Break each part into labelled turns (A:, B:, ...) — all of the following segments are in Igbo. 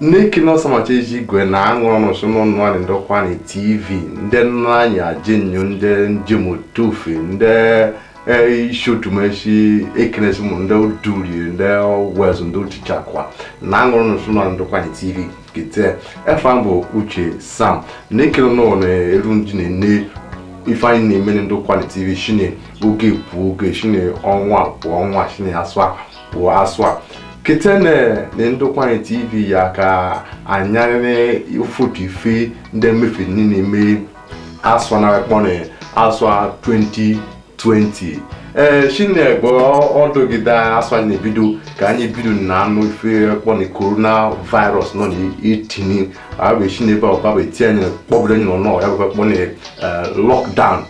A: na-ekene ọsamacha eji igwe na aṅụ ọnụ sụ n'ụnụ anyị ndọkwa na tv ndị nna anyị ajie nụ ndị njem otofe ndị eh, isi otumeshi ekenesi mụ ndị duri ndị wezụ ndị otichakwa na aṅụ ọnụ sụ n'ụnụ ndọkwa na tv kete efa m bụ uche sam na-ekene ụnụ na eru ndị na-ene ife anyị na-eme na ndọkwa na tv shine oge pụọ oge shine ọnwa pụọ ọnwa shine asụa ka bụ asụa kete na na ndokwa tv ya ka anyarịrị ụfọdụ ife ndị mefe n'ime asụa na akpọ na asụa 2020 ee shi n'ebe ọdụgide asụa nị na-ebido ka anyị bido na anụ ife akpọ na korona virus nọ na-etinye abụ shi n'ebe ọbaba eti anyị kpọbụrụ anyị n'ụnọ ya bụ akpọ na lockdown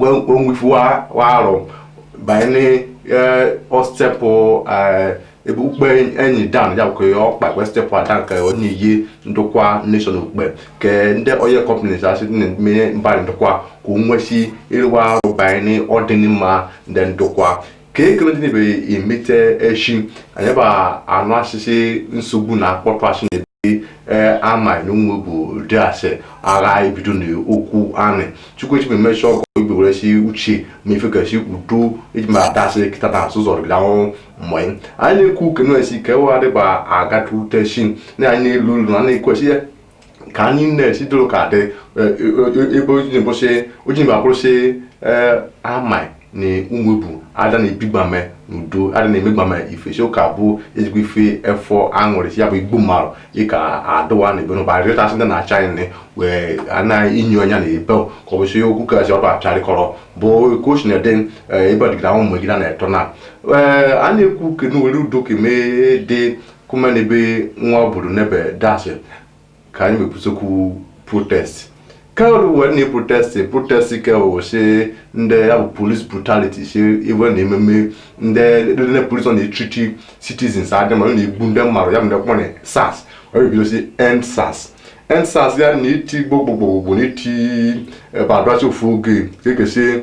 A: onwefu arụ banye n'ostepụ ebe ukpe enyi down ya nke okpai wee stepụ a down nke onye iyi ndokwa nation ukpe ke ndị oil companies asị na-eme mba ndokwa ka o nwesi ịrụwa arụ banye n'ọdịnịmma ndị ndokwa ka ekele ndị na-ebe emete echi anyị bụ anụ asịsị nsogbu na akpọtụsị na ebe amai na umuebu dị asị agha ebido na okwu anị chukwu echi emechi ọgọ igbe were si uche ma ifekasi udo eji ma adasị kịta na azụ zọrọ gị ahụhụ mgbe anyị na-ekwu uke na-esi ka ewe adịba agatute chi na anyị na-elu elu na na-ekwesị ya ka anyị na-esi dịrụ ka dị e, e, e, ebe ojinbụsị ojinba kwụrụsị amai na umuebu ada na-ebigbame n'udo ada na-emegbame ife si ụka bụ ezigbo ife efọ aṅụrị si ya bụ igbo mmadụ ịka adụwa na ebe n'ụba rịọtasị ndị na-acha anyị nị wee anaghị inyo anya na ebe ka ọ bụ si okwu kasị ọdụ apịarịkọrọ bụ ka o si na ede ebe ọdịgide ahụ mgbe gị na-eto na a na-ekwu kenu were udo keme dị kuma ne be nwa obodo n'ebe dasị ka anyị mekwusokwu protest kewru wee na protest protest kewu si ndị ya bụ police brutality si iwe na ememe ndị ndị police ọ na-etreat citizens adị ma ọ na-egbu ndị mmadụ ya bụ ndị kpọrọ sars ọ ga-ebido si end sars end sars ya na iti gbogbogbogbo na iti badwachi ofu oge ka ekesi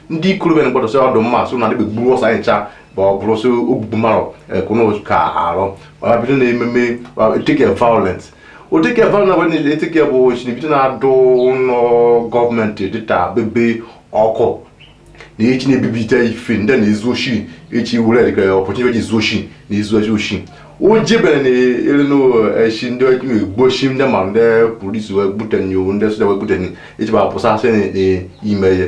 A: ndị okorobịa na-agbadosị ọdụ mma so na adịbe gburu ọsọ anyị ncha bụ ọ bụrụ sị ogbugbu mmadụ ekwunu ka arụ ọ bido na ememe etike violent otike violent bụ na etike bụ chi ni bido na-adụ ụlọ gọọmenti dịta bebe ọkụ na echi na-ebibite ife ndị na-ezu oshi echi were dịka opportunity ji ezu oshi na ezu oshi oshi o jebere na elu n'echi ndị egbochi ndị ma ndị polisi wee gbute nyo ndị soja wee gbute nyo echi bụ apụsasị n'ime ihe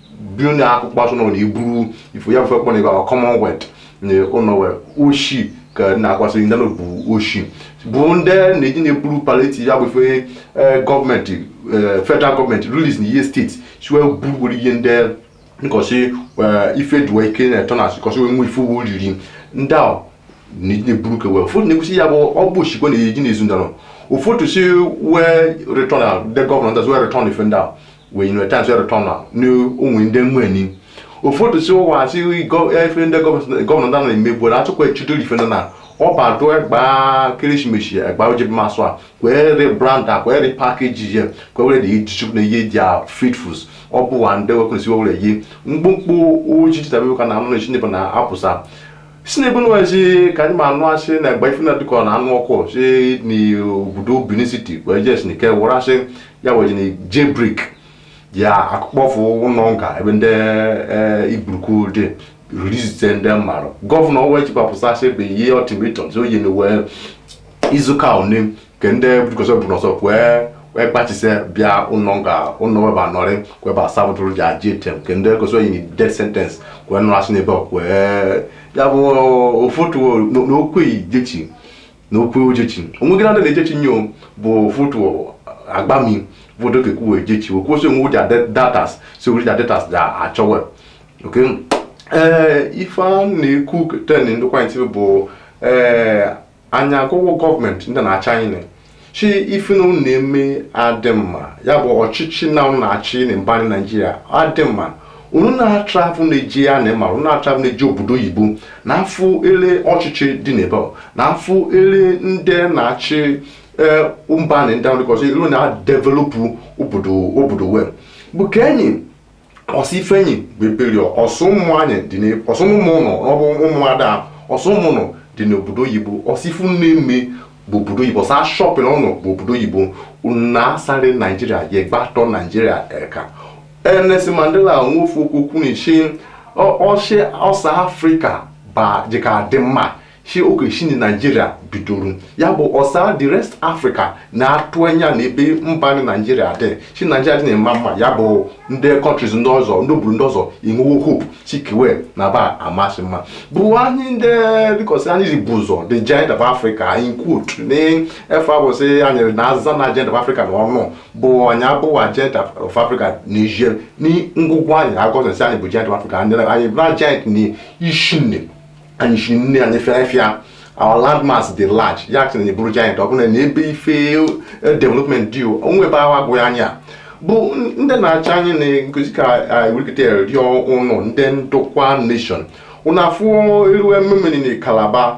A: bụrụ na akụkọ asụ na ụlọ iburu ifo ya bụ fekpọ na ibe ahụ commonwealth na ụlọ wee oshi ka na-akwasị ndị na bụ oshi bụ ndị na-eje na-eburu palliative ya bụ ife eh, gọọmenti eh, federal gọọmenti release na ihe steeti si wee burugburu ihe ndị nkọsị ife duwa ike na-eto na asịkọsị wee nwe ife uwe riri ndị a na-eburu ka wee ụfọdụ na-ekwusi ya bụ ọ bụ oshi ka wa na-eje na-ezu ndara ụfọdụ si wee return a ndị gọvanọ ndị wee return ife ndị a we you know chance to return am ni ohun inde mu eni ụfọdụ sị o wa si ife ndị gọvanọ ndị na emegbu na achọkwa echido ife ndị na ọba adụ egba keresimesi egba oje bi masụ a kwee rebrand a kwee repackage ya kwee were dị iji chukwu na ihe dị a fit foods ọ bụ wa ndị wekwesị were yi mkpụmkpụ ojiji tabe ka na anụ na-echi ndị bụ na apụsa si na ebunu ezi ka anyị ma anụ asị na mgbe ife na-adịkọ na anụ ọkụ si n'obodo Benin City wee jes n'ike were asị ya wee na jailbreak akụkpọfụ ụlọ nga ebe ndị eh, igburuku dị rizite ndị mmadụ gọvanọ wee jibapụsasị bụ ihe ultimatum sị oyi na wee izuka one ke ndị bụkọsọ bụ n'ọsọ kwee wee gbachise bịa ụlọ nga ụlọ weba nọrị weba sabụtụrụ jail term ke ndị kọsọ yi death sentence kwee nọrọ asị n'ebe ọ kwee ya bụ ụfọdụ n'okwu ejechi n'okwu ojechi onweghị na ndị na-ejechi nyo bụ ụfọdụ agbami bụ odoke kwuwe ejechi okwu osi onwe ụja datas si ụja datas da achọwe okay ee ife a na-ekwu ten ndịkwa ntị bụ ee anyị agwago gọọmenti ndị na-achị anyị na sị ife na unu na-eme adị mma ya bụ ọchịchị na unu na-achị na mba anyị naijiria adị mma unu na-atravụ na-eje ya na ịma unu na-atravụ na-eje obodo oyibo na afụ ele ọchịchị dị n'ebe ọ, na afụ ele ndị na-achị ee, mba na ndị ọrụ ọzọ ilu na-adevelopụ obodo obodo we bụ ke anyị ọsọ ife anyị bụ eberi ọsọ ụmụ anyị dị ọsọ ụmụ ụlọ ọbụ ụmụ ada ọsọ ụmụ unu dị n'obodo oyibo ọsọ ife unu na-eme bụ obodo oyibo ọsọ shopping unu bụ obodo oyibo na asarị naijiria ya gbatọ naijiria eka Nelson Mandela nwe ofu okwu o kwuru ọ sị ọsọ afrịka ba dịka dị mma sị oke si na naijiria bidoro ya bụ ọsa the rest africa na-atụ anya na ebe mba na naijiria dị sị naijiria dị na-ema mma ya bụ ndị countries ndị ọzọ ndị obodo ndị ọzọ enwewo hope sị ke we na ba amasị mma bụ anyị ndị bikọsi anyị ji bu ụzọ the giant of africa anyị kwutu na ife a bụ sị anyị na aza na giant of africa n'ọnụ bụ anyị abụwa giant of africa na ije na ngwụgwọ anyị egosisi anyị bụ giant of africa anyị na giant na isi nne anyị si nne anyị fịafịa our landmass dị large ya sị na bụrụ giant ọ bụla na ebe ife eh, development dị onwe ebe ahụ agụghị anya bụ n- ndị na-achị anyị na-egosi ka wikite rịọ ụnụ ndị ndokwa nation ụnụ afụ elu ememeni na calabar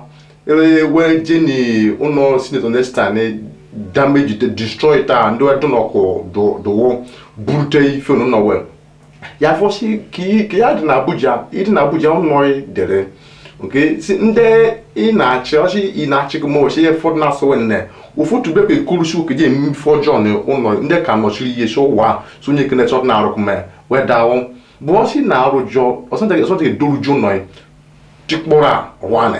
A: e wee jeni ụnọ senator nesta na damage destroy taa ndị ọdụ n'ọkụ dụwo burute ife ụnụ nọwel ya fọ si ka ị- ka ya dị n'abuja ị dị n'abuja ụnọ ị dere nke si ndị ị na-achị ọchị ị na-achị gị ma ọchị ihe fọdụ na-asụ nne ụfọdụ bekwa ekurusi oke je eme ife ọjọọ na ụlọ ndị ka nọchiri ihe si ụwa a, so onye kene chọt na-arụkụ ma wedawụ bụ ọsị na-arụ jọ ọsọnta ga-edoruju ụlọ tikpọrọ a ru anị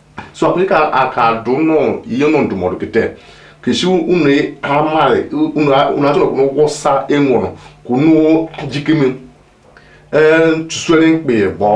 A: so anyị ka aka dụ nọ ihe nọ ndụmọdụ kịta kesi unu amaghị unu unu atụrụ kwụrụ ụgwọ sa enwụrụ kwụnụ jikeme ee chụsụere mkpe bọ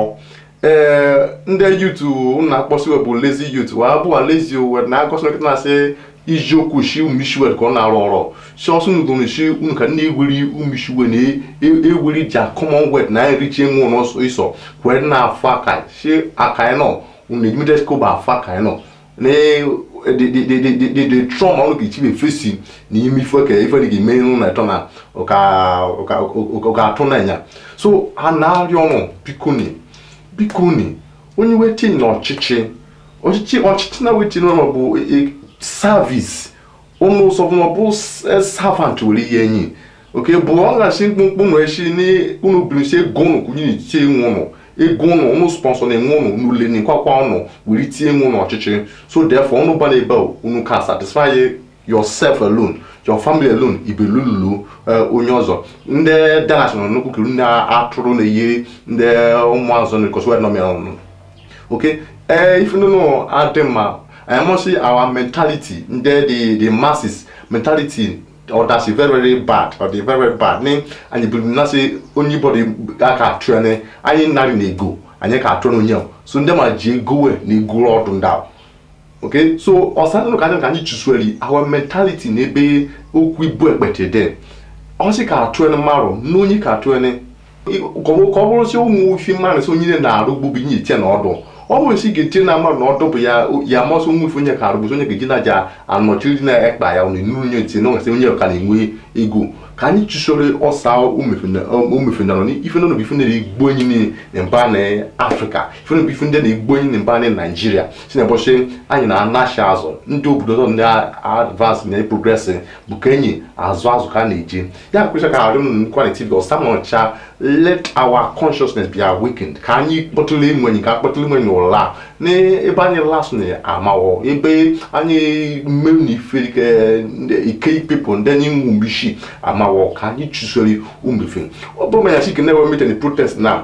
A: ee ndị youth unu na-akpọ si bụ lazy youth wa bụ lazy we na-egosi nụ kịta na-asị iji okwu shi umishiwe ka ọ na-arụ ọrụ si ọsụ unu gụrụ shi unu ka ndị egwuri umishiwe na egwuri ja commonwealth na enrich onwe n'ọsọ isọ kwere na-afụ aka shi aka nọ unu ejime discover afa ka anyị nọ na the trauma unu ga-echi be fesi na ime ife ka ife dị ga-eme unu na-eto na ga-atụ na ya so a na-arịọ ụnụ bikoni bikoni onye we tinye na ọchịchị ọchịchị ọchịchị na we tinye ụnụ bụ service ụnụ sọ bụ na ọ bụ servant were ihe enyi oke bụ ọ na-asị mkpụmkpụ nụ eshi n'unu bilisi ego ụnụ kwụnye n'itie onwe ụnụ ego ụnụ ụnụ sponsor na onwe ụnụ n'ule na ikwakwa ụnụ were tinye onwe ụnụ ọchịchị so therefore ụnụ bana ebe a unu ka satisfy yourself alone your family alone ibelululu onye ọzọ ndị danas nọ nnukwu kiri ndị atụrụ na-eyi ndị ụmụazụ na kọsụ nọ mịa ọnụ oke ee ife ndị nọ adị mma anyị ma sị our mentality ndị the the masses mentality ọ dasị very very bad ọ dị very very bad ni anyị bụ na sị onye bọdụ a ka atụ ya ni anyị narị na ego anyị ka atụ na onye ahụ so ndị ma ji ego we na ego ọdụ ndị ahụ okay so ọsa nụrụ ka anyị ka anyị chụsụeli our mentality n'ebe okwu ibu ekpete dị ọ sị ka atụ ya ni mmarụ na onye ka atụ ya ni ka ọ bụrụ si ụmụ ifi mmanụ si onye na-arụ ugbo bụ inye iche na ọdụ ọ bụrụ si ga-eche na mmadụ na ọdụ bụ ya ya masị ụmụ ife onye ka arụ bụzi onye ga-eji na aja anọchiri na ekpa ya na nuru onye ntị na onwesị onye ka na-enwe ego ka anyị chụsoro ọsa umefenarọ na ife nọnụ bụ ife na-eri egbu enyi niile na mba na afrịka ife nọnụ bụ ife ndị na-egbu enyi na mba na naijiria si na ụbọchị anyị na-anacha azụ ndị obodo ọzọ na-advance na-progress bụ ka enyi azụ azụ ka a na-eje ya kwesịrị ka arụ m kwaliti gị ọsa nọcha let our consciousness be awakened ka anyị kpọtele enwe anyị ka a kpọtele enwe anyị ụla n'ebe anyị lasị na amaghọ ebe anyị mmerụ na ife ike ike ikpepụ ndị anyị nwu mgbe isi amaghọ ka anyị chụsori umefe ọ bụrụ ma ya si ka na-ewe mete na protest na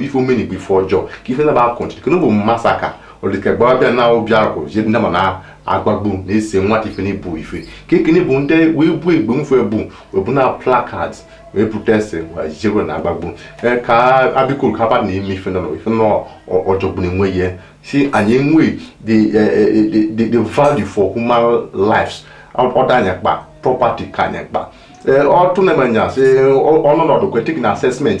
A: ife e meni bụ ife ọjọọ ka ife naba akọnchi ka bụ massacre ọdịka gbara bịa na obi akwụ je ndị ma na agbagbu na ese nwata ife na ibu ife ka ekene bụ ndị wee bu egbe mfe ebu wee bụ na placard wee protest wee jebe na agbagbu ee ka abịkuru ka abad na-eme ife nọ ife nọ ọjọgbụ na-enwe ihe si anyị enwe the the the value for human lives ọ dị anyị mkpa property ka anyị kpa ọtụ na-eme anya sị ọnọdụ kwetik na assessment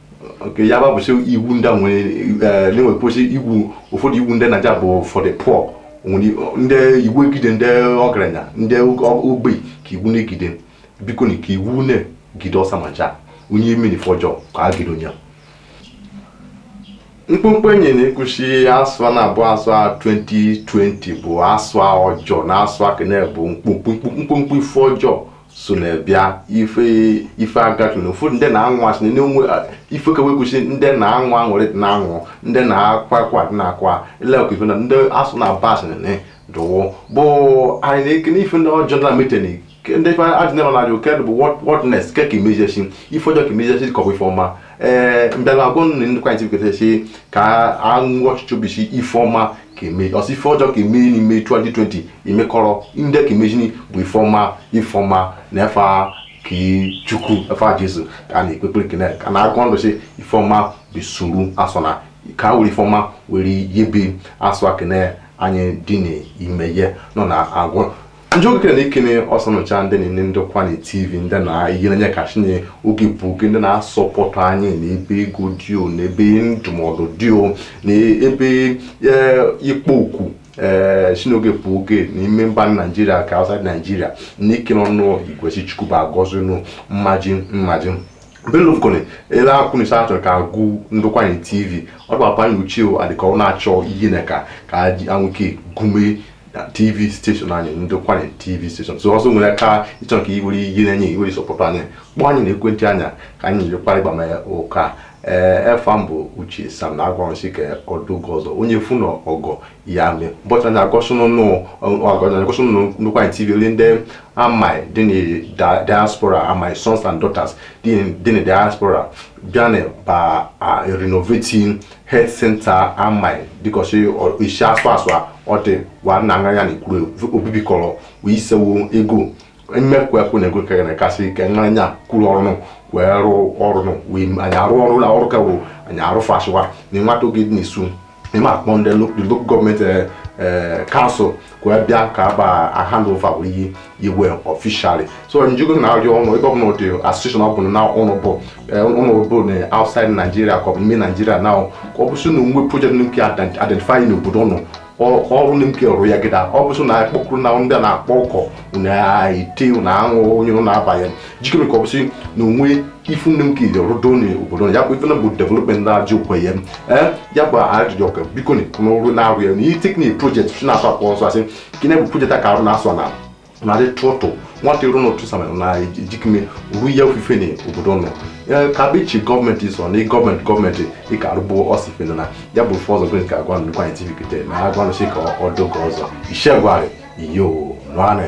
A: nke ya gbapụsị iwu ndị nwere na-enwe kwụsị iwu ụfọdụ iwu ndị naija bụ for the poor ndị iwu egide ndị ọgaranya ndị ogbei ka iwu na-egide biko na ka iwu na-egide ọsa ma ja onye meni ife ọjọọ ka a gide onye mkpụmkpụ anyị na-ekwu sị asụa na-abụ asụa 2020 bụ asụa ọjọọ na asụa kene bụ mkpụmkpụ mkpụmkpụ ife ọjọọ so na-abịa ife ife agatụ na ụfọdụ ndị na-aṅụ asị na enwe ife ka wekwusi ndị na-aṅụ ọṅụ dị na-aṅụ ndị na-akwa akwa dị na-akwa ilekwa ife na ndị asụa na aba asị na dụwụ but anyị na-ekene ife ndị ọjọọ na meteni ndị ife ajụjụ na na-ajụ kedụ bụ what next ke ka imejesi ife ọjọọ ka imejesi ka ọ bụ ife ọma ee mbịara agwa nne ndọkwanyị tv kọtasi ka aṅụ ọchịchọ bụ sị ife ọma ka e me ọ sị ife ọjọọ ka eme n'ime 2020 imekọrọ ndị ka emezini bụ ife ọma ife ọma na efa nke chukwu efa jesu ka a na-ekpe ekpere kene ka na-akwado sị ife ọma bisuru asụa na ka were ife ọma were yebe asụa kene anyị dị n'ime ya nọ na-agwụ njogokere na-ekene ọsa ọnụ cha ndị na-ene ndọkwanyị tv ndị na ihe na-enye eka si n'oge bụ oge ndị na-asọpọtụ anyị na ebe ego dị o na ebe ndụmọdụ dị o na ebe eh, ikpo okwu ee si n'oge bụ oge n'ime mba naijiria ka outside naijiria na-ekene ọnụ igwesi chukwu ba agọzi ọnụ mmaji mmaji belofkone ele akwụnisa achọrọ ka agụ ndọkwanyị tv ọ dụbapanye uche o adịka ọ na-achọ ihe na ka ka anwụke gume na tv steshọn anyị ndọkwanyị tv steshọn so ọzọ nwere ka ịchọ nke iwere iyi na-enye iwere sọpọtụ anyị kpọọ anyị na ekwentị anya ka anyị nyekwara ịgba mee ụka ee efa m bụ uche sam na-agwa ọnụ sị ka ọ dị oge ọzọ onye fụ na ọgọ ya mee bọcha na agọsụnụnụ agọsụnụnụ ndọkwanyị tv ole ndị amai dị na da- diaspora amai sons and daughters dị na- dị na diaspora bịa na ba a renovating health center amai dịka ọchị isi asụ asụ ọ dị wa nna anya ya na ikwuru obibi kọrọ wee isewo ego mmekwa ekwu na ego kere na kasị ike nwa anya kwuru ọrụnụ wee rụọ ọrụnụ wee anyị arụ ọrụ na ọrụ ka wo anyị arụ fashiwa na nwata oge dị n'isu ịma akpọ ndị lo- the local government eh, eh, council wee bịa ka agba hand over wee yi iwe officially so njugo na-arịọ ụnụ ebe ọbụla ụdị association ọbụla na ụnụ bụ ụnụ bụ na outside Nigeria ka ọ bụ n'ime Nigeria na ọ bụsị na o nwe project nke identify n'obodo ụnụ ọrụ na nke ọrụ ya gịda ọ bụsị na akpọkụrụ na ndị a na-akpọ ụkọ na ite na aṅụ onye na-abanye jikere ka ọ bụsị na o nwe ife nne m ka ije rụdo na obodo ya bụ ife na bụ development na-ajụ ọkwa ya ee ya bụ ajụjụ ọka biko na n'ọrụ na-arụ ya na ihe teknik project si na-atụ akpọ ọzọ asị ka na bụ project a ka arụ na-asụ na narị tụtụ nwata iru n'otu samara na ejikime ru ya ofufe na obodo nọ Ee, ka bụ iche government sọ na government government ịka arụbụ ọsife na ya bụ fọzọ government ka agwa nnukwu anyị tv kete na agwa nụsị ka ọ doge ọzọ ishegwarị iyo nwanị